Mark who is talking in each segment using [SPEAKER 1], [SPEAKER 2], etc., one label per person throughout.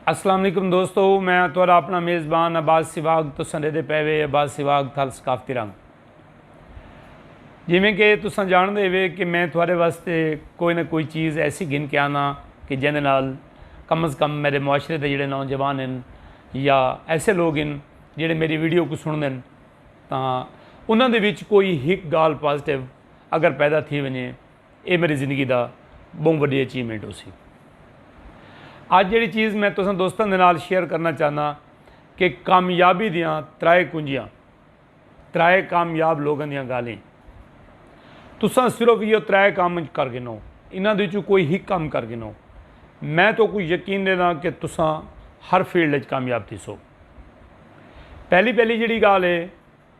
[SPEAKER 1] السلام علیکم دوستو میں تھوڑا اپنا میزبان عباس سواگ تو سندے دے پے وے عباس سواگ تھال ثقافتی رنگ جی میں کہ تساں جان دے وے کہ میں تھوڑے واسطے کوئی نہ کوئی چیز ایسی گھن کے آنا کہ جن نال کم از کم میرے معاشرے دے جڑے نوجوان ہیں یا ایسے لوگ ہیں جڑے میری ویڈیو کو سن دین تاں انہاں دے وچ کوئی ہک گال پازیٹیو اگر پیدا تھی ونجے اے میڈی زندگی دا بہوں وڈی اچیومنٹ ہوسی۔ اج جیڑی چیز میں تساں دوستاں دے نال شیئر کرنا چاہنا کہ کامیابی دیاں ترائے کنجیاں، ترائے کامیاب لوگاں دیاں گالھیں۔ تساں صرف ایہو ترائے کم کر گھنو، انہاں دے وچوں کوئی ہک کم کر گھنو۔ میں تہاکوں یقین ڈینداں کہ تساں ہر فیلڈ وچ کامیاب تھیسو۔ پہلی پہلی جیڑی گالھ اے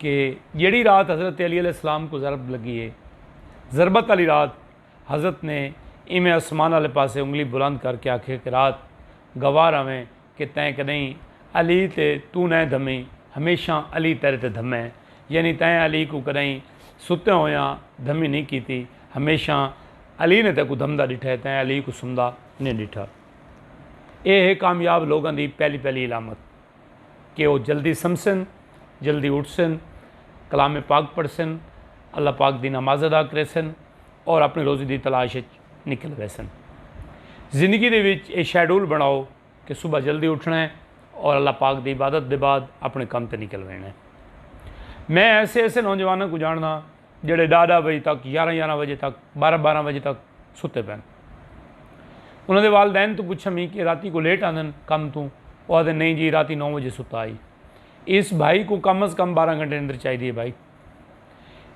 [SPEAKER 1] کہ جیڑھی رات حضرت علی علیہ السلام کو ضرب لگی ہے ضربت علی رات حضرت نے ایویں آسمان علی پاسے انگلی بلند کر کے آکھے کہ رات گوار آویں کہ تیں کدیں علی تے تو نیں دھمی ہمیشہ علی تیرے تے دھمے ہیں یعنی تیں علی کو کدیں ستے ہویا دھمی نہیں کیتی ہمیشہ علی نے تے کو دھمدا ڈٹھا ہے تیں علی کو سمدا نہیں ڈٹھا اے ہے کامیاب لوگاں دی پہلی پہلی علامت کہ او جلدی سمسن، جلدی اٹھسن، کلام پاک پڑھسن، اللہ پاک دی نماز ادا کریسن اور اپݨی روزی دی تلاش اچ نکل ویسن۔ زندگی دے وچ اے شیڈول بݨاؤ کہ صبح جلدی اٹھݨا ہے اور اللہ پاک دی عبادت دے بعد اپݨے کم تے نکل ویݨا ہے۔ میں ایسے ایسے نوجواناں کوں جاݨداں۔ جیڑھے ݙاہ ݙاہ بجے تک، یارھاں یارھاں بجے تک، بارھاں بارھاں بجے تک ستے پئن۔ انہاں دے والدین توں پچھم ہی کہ راتی کوں لیٹ آندن کم توں، او آہدن نئیں جی راتی نو بجے ستا ہئی۔ ایس بھائی کوں کم از کم بارھاں گھنٹے نیندر چاہیدی ہے بھائی۔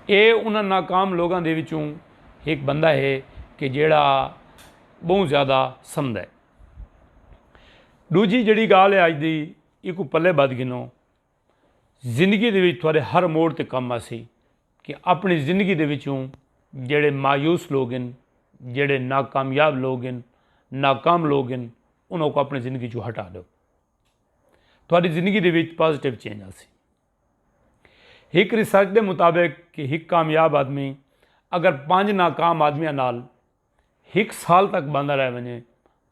[SPEAKER 1] اے انہاں ناکام لوگاں دے وچوں ہک بندہ ہے کہ جیڑھا ٻہوں زیادہ سمدھ ہے۔ ݙوجھی جیڑھی ڳالھ ہے اڄ دی ایکوں پلے ٻدھ گھنو۔ زندگی دے وچ تھوڑے ہر موڑ تے کم آسی کہ اپنی زندگی دے وچوں جڑے مایوس لوگ ہیں جڑے ناکامیاب لوگ ہیں ناکام لوگ ہیں انہوں کو اپنی زندگی چوں ہٹا دو تھوڑی زندگی دے وچ پازیٹیو چینج آسی ایک ریسرچ دے مطابق کہ ایک کامیاب آدمی اگر پانچ ناکام آدمیاں نال ہک سال تک بندہ رہ ونجے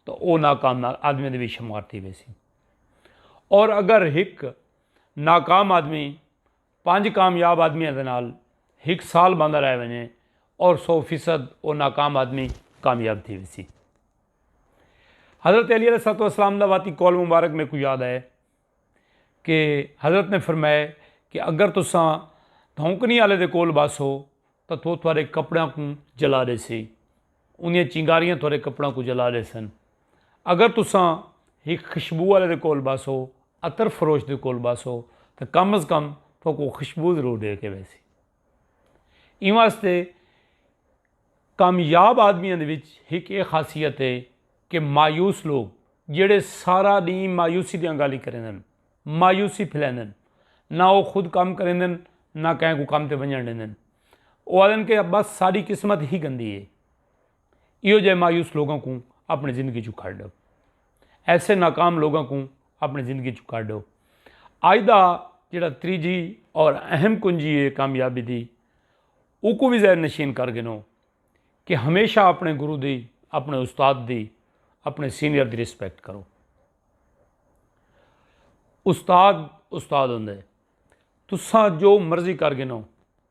[SPEAKER 1] تو او ناکام آدمی دے وچ شمار تھی ویسی اور اگر ہک ناکام آدمی پانچ کامیاب آدمیاں دے نال ہک سال بندہ رہ ونجے اور سو فیصد او ناکام آدمی کامیاب تھی ویسی حضرت علی علیہ السلام دا واتی قول مبارک میکو یاد آئے کہ حضرت نے فرمایا کہ اگر تساں دھونکنی آلے دے کول باسو تو تو تھوڑے کپڑیاں کو جلا دے سی انہیں چنگاریاں تھوڑے کپڑیاں کو جلا دے سن اگر تساں ہی خشبو آلے دے کول باسو اتر فروش دے کول باسو تو کم از کم تو کو خشبو ضرور دے کے ویسی ایں واسطے کامیاب آدمیاں دے وچ ہک اے خاصیت ہے کہ مایوس لوگ جیڑھے سارا ڈینہہ مایوسی دیاں گالیں کریندن مایوسی پھیلیندن نہ او خود کم کریندن نہ کہیں کوں کم تے ونجن ڈیندن او آدن کہ بس ساڈی قسمت ہی گندی ہے ایہو جہے مایوس لوگاں کوں اپنی زندگی چوں کڈھ ڈو ایسے ناکام لوگاں کوں اپنی زندگی چوں کڈھ ڈو اج دا جڑا تریجی اور اہم کنجی ہے کامیابی دی اوکوں بھی ذہن نشین کر گنو کہ ہمیشہ اپنے گرو دی اپنے استاد دی اپنے سینئر دی رسپیکٹ کرو استاد استاد ہوں تساں جو مرضی کر گنو